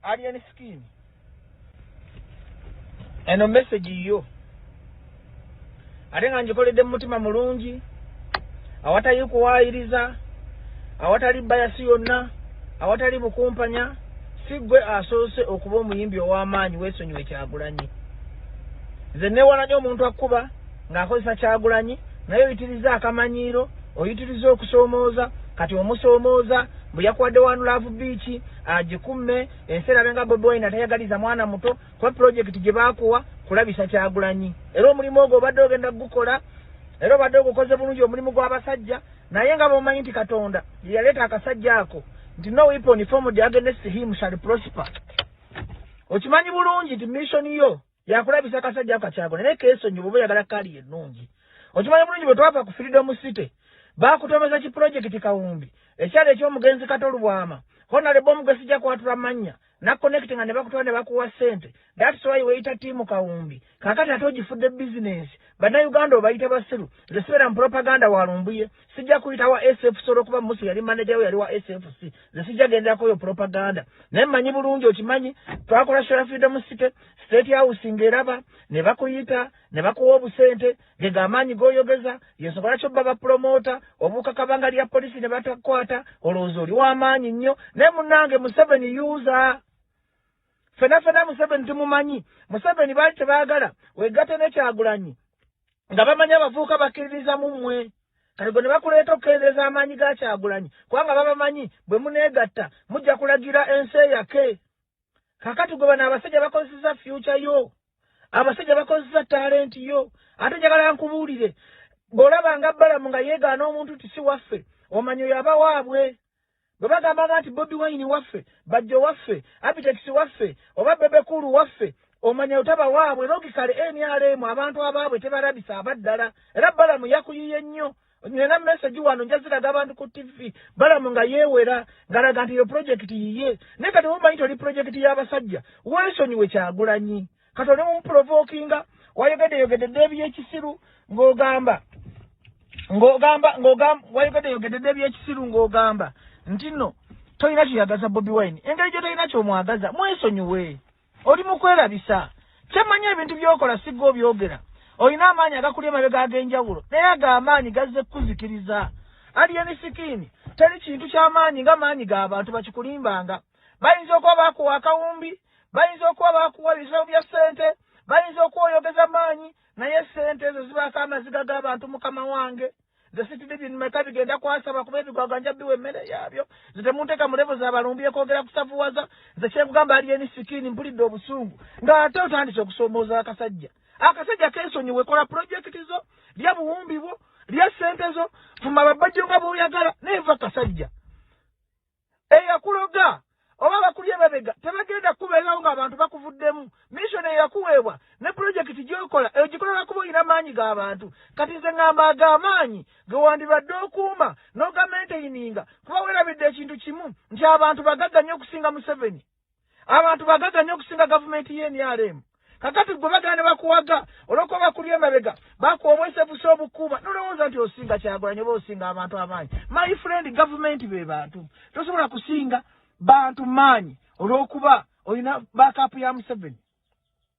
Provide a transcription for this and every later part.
Alien skin. Eno message yo. Ate nga njikoledde mutima mulungi awatali kuwaayiriza awatali bayasi yonna awatali bukumpanya si gwe asoose okuba omuyimbi ow'amaanyi weesonyiwe kyagulanyi nze newalanyo omuntu akkuba ng'akozesa kyagulanyi naye oyitiriza akamanyiiro oyitiriza okusoomooza kati omusoomooza bwe yakuwadde wanulaavu biiki agikumme ensi erabe nga bobi wine atayagaliza mwana muto kuba pulojekiti gye baakuwa kulabisa kyagulanyi era omulimu ogwo obadde ogenda kugukola era obadde ogukoze bulungi omulimu gw'abasajja naye nga bomanyi nti katonda yeyaleeta akasajja ako nti no weapon formed against him shall prosper okimanyi bulungi nti mission yo yakulabisa kasajja ako kakyago naye kesonyi bwoba oyagala kaali ennungi okimanyi bulungi bwe twava ku freedom city baakutomeza ki pulojekiti kawumbi ekyalo eky'omugenzi kato lubwama honalebo omu gwe sijja kwatula mannya nakonekiti nga ne bakutwala ne bakuwa ssente thats why weyita tiimu kawumbi kakati ate ogifudde bizinensi bannayuganda obayita basiru ze sibeera mu propaganda walumbuye sijja kuyita wa sfc olwokuba musi yali manaja we yali wa sfc nze sijja genderako oyo propaganda naye manyi bulungi okimanyi twakola shola freedom city state house ngaeraba ne bakuyita ne bakuwa obusente gega amaanyi goyogeza yensobola kyobba bapromota obuuka kabanga lya polisi ne batakwata olowooza oli w'amaanyi nnyo naye munange museveni user fena fena museveni tumumanyi museveni baali tebagala wegate nekyagulanyi nga bamanyi abavuuka bakkiririza mu mmwe kati gwe ne bakuleeta okukendeeza amaanyi ga kyagulanyi kubanga babamanyi bwe muneegatta mujja kulagira ensi eyake kakati gwe bano abasajja bakozeseza fyuca yo abasajja bakozesa talenti yo ate njagala nkubuulire bw'olaba nga balamu nga yeegaana omuntu tisi waffe omanyi oyo aba waabwe bwe bagambanga nti bobi wayini waffe bajjo waffe abitekisi waffe oba bebekulu waffe omanya otaba waabwe logikale nrm abantu abaabwe tebalabisa abaddala era balamu yakuyiye nnyo nina meseji wano njaziraga abantu ku tv balamu nga yeewera ngalaga nti eyo pulojekiti yiye naye kati womanyi toli pulojekiti y'abasajja weesonyiwe kyagulanyi kati oli mumuprovokinga wayogedde yogedde dde ebyekisiru ng'ogamba ng'ogamba ng'ogamba wayogedde yogedde dde ebyekisiru ng'ogamba nti nno tolina kyoyagaza bobi wine engeri gye tolina kyomwagaza mwesonyiwe oli mu kwerabisa kyemmanyi ebintu byokola sigga obyogera olina amaanyi agakuli emabega ag'enjawulo naye ago amaanyi gazze kukuzikiriza aliyeni sikiini teri kintu ky'amaanyi nga maanyi g'abantu bakikulimbanga bayinza okuba bakuwa akawumbi bayinza okuba bakuwa ebisawo bya ssente bayinza okuwa oyogeza maanyi naye ssente ezo zibaako amaziga g'abantu mukama wange zesitidibinmeka bigenda kwasaba kuba ebigwagwa nja biwa emmere yaabyo ze temunteeka mu levo zabalumbi ekwogera kusavuwaza ze kyekugamba ali eni sikiini mpulidde obusungu ng'ate otandise okusoomooza akasajja akasajja kensonyi wekola pulojekiti zo lya buwumbi bwo lya ssente zo fuma babajjo nga bwoyagala naye va kasajja eyakuloga oba bakuli emabega tebagenda kukubeerawo ng'abantu bakuvuddemu mission eyakuweebwa ne pulojekiti gyokola eyo gikola lwakuba olina maanyi g'abantu kati nze ngamba ago amaanyi ge wandibadde okuuma n'ogamenteyininga kuba weerabidde ekintu kimu nti abantu bagagga nnyo okusinga museveni abantu bagaga nnyo okusinga gavumenti y'enrm kakati gwe bagala ne bakuwaga olwokuba bakuli emabega bakuwa obwesefusa obukuuma nolowooza nti osinga kyagulanyi oba osinga abantu amaanyi my friend gavumenti be bantu tosobola kusinga bantu maanyi olwokuba olina bakapu ya museveni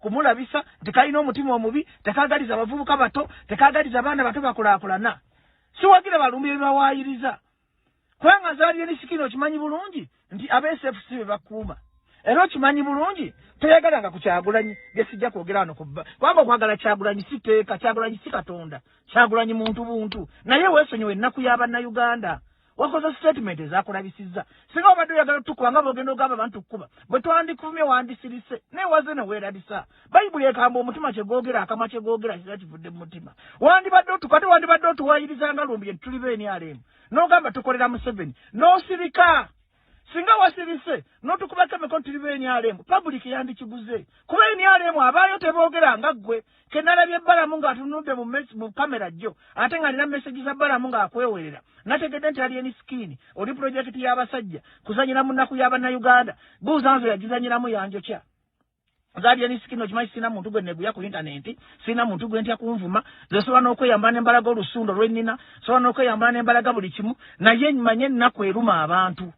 kumulabisa nti kalina omutima omubi tekagaliza bavubuka bato tekagaliza baana bato bakulakulana siwagira balumbi ebibawayiriza kubanga zaliyo nisikini okimanyi bulungi nti absfc bebakuuma era okimanyi bulungi toyagala nga kukyagulanyi gesijja kwogera wano kubba kubanga okwagala kyagulanyi si teeka kyagulanyi si katonda kyagulanyi muntu buntu naye wesonyiwa ennaku ya bannayuganda wakoze statement ezakulabisizza singa obadde oyagala otukuba nga bogenda ogamba abantu kukuba bwe twandikuvumye wandisirise naye waze ne weerabisa bayibuli ekamba omutima kye googera akamwa kye googera kira kivudde mu mutima wandibadde otukwate wandibadde otuwayiriza nga lumbi etuli beenialeemu n'ogamba tukolera museveni n'osirika singa wasirise notukubako emikono tuli benyalemu public yandikiguze kuba enyalemu abaayo teboogera nga ggwe kenalabye balamu ng'atunudde mu kamera jjo ate nga alina mesegi za balamu ng'akwewerera nategedde nti alieni sikini oli pulojekiti y'abasajja kuzanyira mu nnaku y'abannayuganda buuza nze yagizanyiramu yanjokya nzali eri sikino kimanyi sina muntu gwe neguya ku intaneti sina muntu gwe ntya kunvuma nze sobola n'okweyambala nembalaga olusundo lwennina sobola n'okweyambala nembalaga buli kimu naye manye ennaku eruma abantu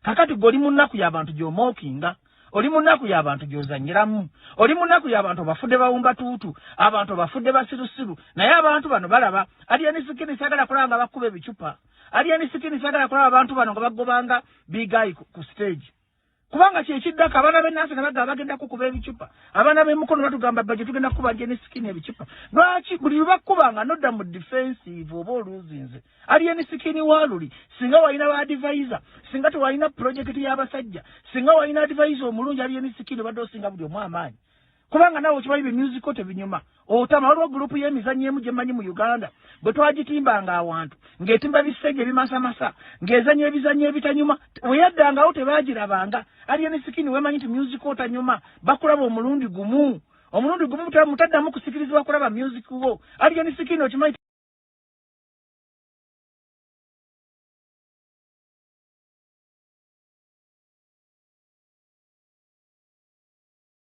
kakati gwe oli mu nnaku y'abantu gy'omookinga oli mu nnaku y'abantu gy'ozanyiramu oli mu nnaku y'abantu obafudde bawumba tuutu abantu obafudde basirusiru naye abantu bano balaba aliyeni sikini sagala kulaba nga bakkuba ebicupa aliyeni sikini sagala kulaba abantu bano nga bagobanga bigayi ku siteegi kubanga kyekiddako abaana benansi nabaga bagenda kukuba ebicupa abaana bemukono batugamba baje tugenda kubanja ne sikini ebicupa lwaki buli lubakubanga nodda mu defensive oba oluzinze aliye ne sikini waluli singa walina ba adivisa singa tewalina pulojekiti y'abasajja singa walina adivisa omulungi aliye ne sikini obadde osinga buli omu amaanyi kubanga nawe okimanyi bye musical tebinyuma otama waliwo gurupu y'emizannyo emu gye mmanyi mu uganda bwe twagitimbanga awantu ng'etimba bisenge ebimasamasa ng'ezannya ebizannyo ebitanyuma weyaddangawo tebaagirabanga aliyo ne sikini wemanyi nti music otanyuma bakulaba omulundi gumu omulundi gumu mutaddamu kusikirizibwa kulaba music wo aliyo ne sikini okimanyi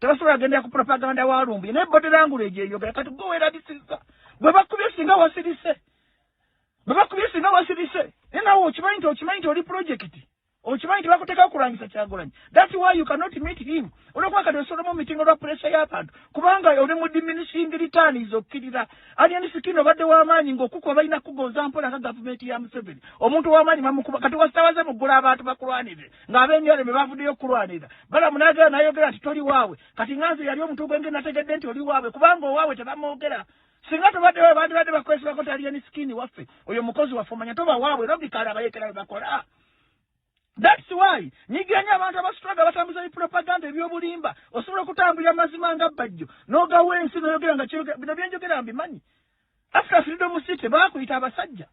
tebasobola gendera ku propaganda wa lumbuye naye body language eyogera kati gwe weerabisiza bwe bakubye singa wasirise bwe bakubye singa wasirise naye nawe okimanyi nti okimanyi nti oli pulojekiti okimanyi nti bakuteeka okulwanyisa kyagulanyi thats why you cannot meet him olwokuba kati osolomu mitingo lwa puresha y'abantu kubanga oli mu diminishing returns okkirira Alien Skin obadde w'amaanyi ng'okukuba balina kugonza mpola nga gavumenti ya Museveni. Omuntu w'amaanyi bamukuba kati wasitawaze mu ggula abantu bakulwanirire ng'ab'emyalo be bavuddeyo okukulwanirira. Balamu n'agera n'ayogera nti toli waabwe. Kati nga nze yali omuntu gwenge nategedde nti oli waabwe kubanga owaabwe tebamwogera. Singa tobadde waabwe bandibadde bakwesibako nti Alien Skin waffe oyo mukozi waffe omanya toba waabwe logically abayekera bwe bakola. That's why nyigira nyo abantu abasitulaga batambuza bipropaganda ebyobulimba osobola okutambulira mazima nga bajjo nogawa ensi noyogera nga bino byenjogera mbimanyi after freedom city bakuyita abasajja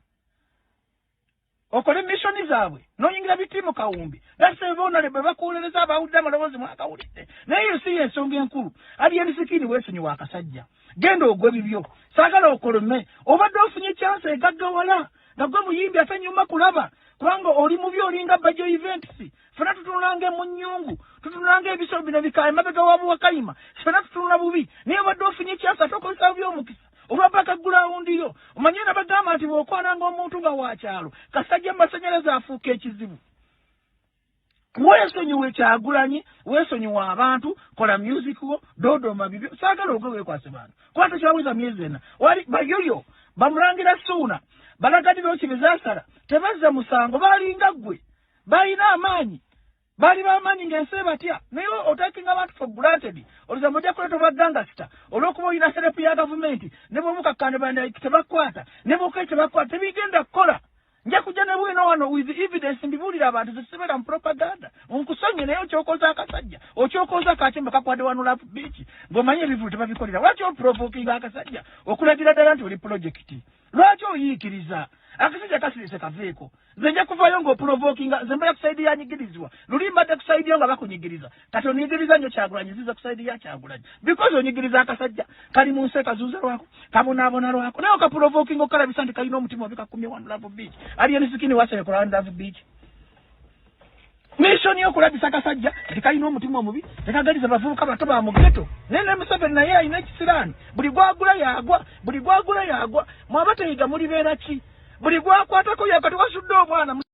okole mishoni zaabwe noyingira bitimu kawumbi dasebonale bwe bakuwolereza abawudde amaloboozi mwakawulidde naye ensi yensonga enkulu aliyensikini wesonyi wakasajja genda ogwe bibyo saagala okolome obadde ofunye kyansi egaggawala nga gwe muyimbi ate nyuma kulaba kubanga oli mubi olinga bajo events fena tutunulanga emunyungu tutunulanga ebisolo bino bika emabega wa buwakayima fena tutunula bubi naye obadde ofunye ekyasa ate okozesa bubi omukisa olwabaka gulawundi yo omanye nabagamba nti bwokwananga omuntu nga wakyalo kasajja mu masanyalaze afuuka ekizibu wesonyiwe kyagulanyi wesonyiwe abantu kola music wo dodoma bibyo sagala ogwe wekwase bantu kuba tekyaweza myezi ena wali bayoyo bamulangira suuna balagadira oki bezasala tebazza musango balinga ggwe balina amaanyi bali bamaanyi ngaensi ebatya naye otakinga abantu for granted oluza muja kuleta obwagangasita olwokuba olina serepu ya gavumenti ne bwomukakkane bandaki tebakwata ne bwokai tebakwata tebigenda kukola nja kujja ne bwino wano with evidence mbibuulira abantu zesibeera mu propaganda nkusonye naye okyokoza akasajja okyokoza akatimba kakwade wano lapu biiki ng'omanyi ebivulu tebabikolera lwaki oprovokinga akasajja okulagira ddala nti oli pulojekiti lwaki oyiikiriza akasajja kasirise kaveeko nze nja kuvaayo ng'oprovokinga nze mbala kusaidi yanyigirizibwa luli mbadde kusaidi yo nga bakunyigiriza kati onyigiriza nyo kyagulanyi ziza kusaidi ya kyagulanyi because onyigiriza akasajja kali mu nsi ekazuuza lwako kabonaabona lwako naye okaprovoking okalabisa nti kalina omutima obi kakumye one love beach ali enisikini waserekola one love beach mission yo kulabisa kasajja nti kalina omutima omubi tekagaliza bavubuka bato ba mugeto naye ne museveni naye alina ekisiraani buli gwagula yagwa buli gwagula yagwa mwaba teyiga mulibeera ki buli gwakwatako yakati wasudde omwana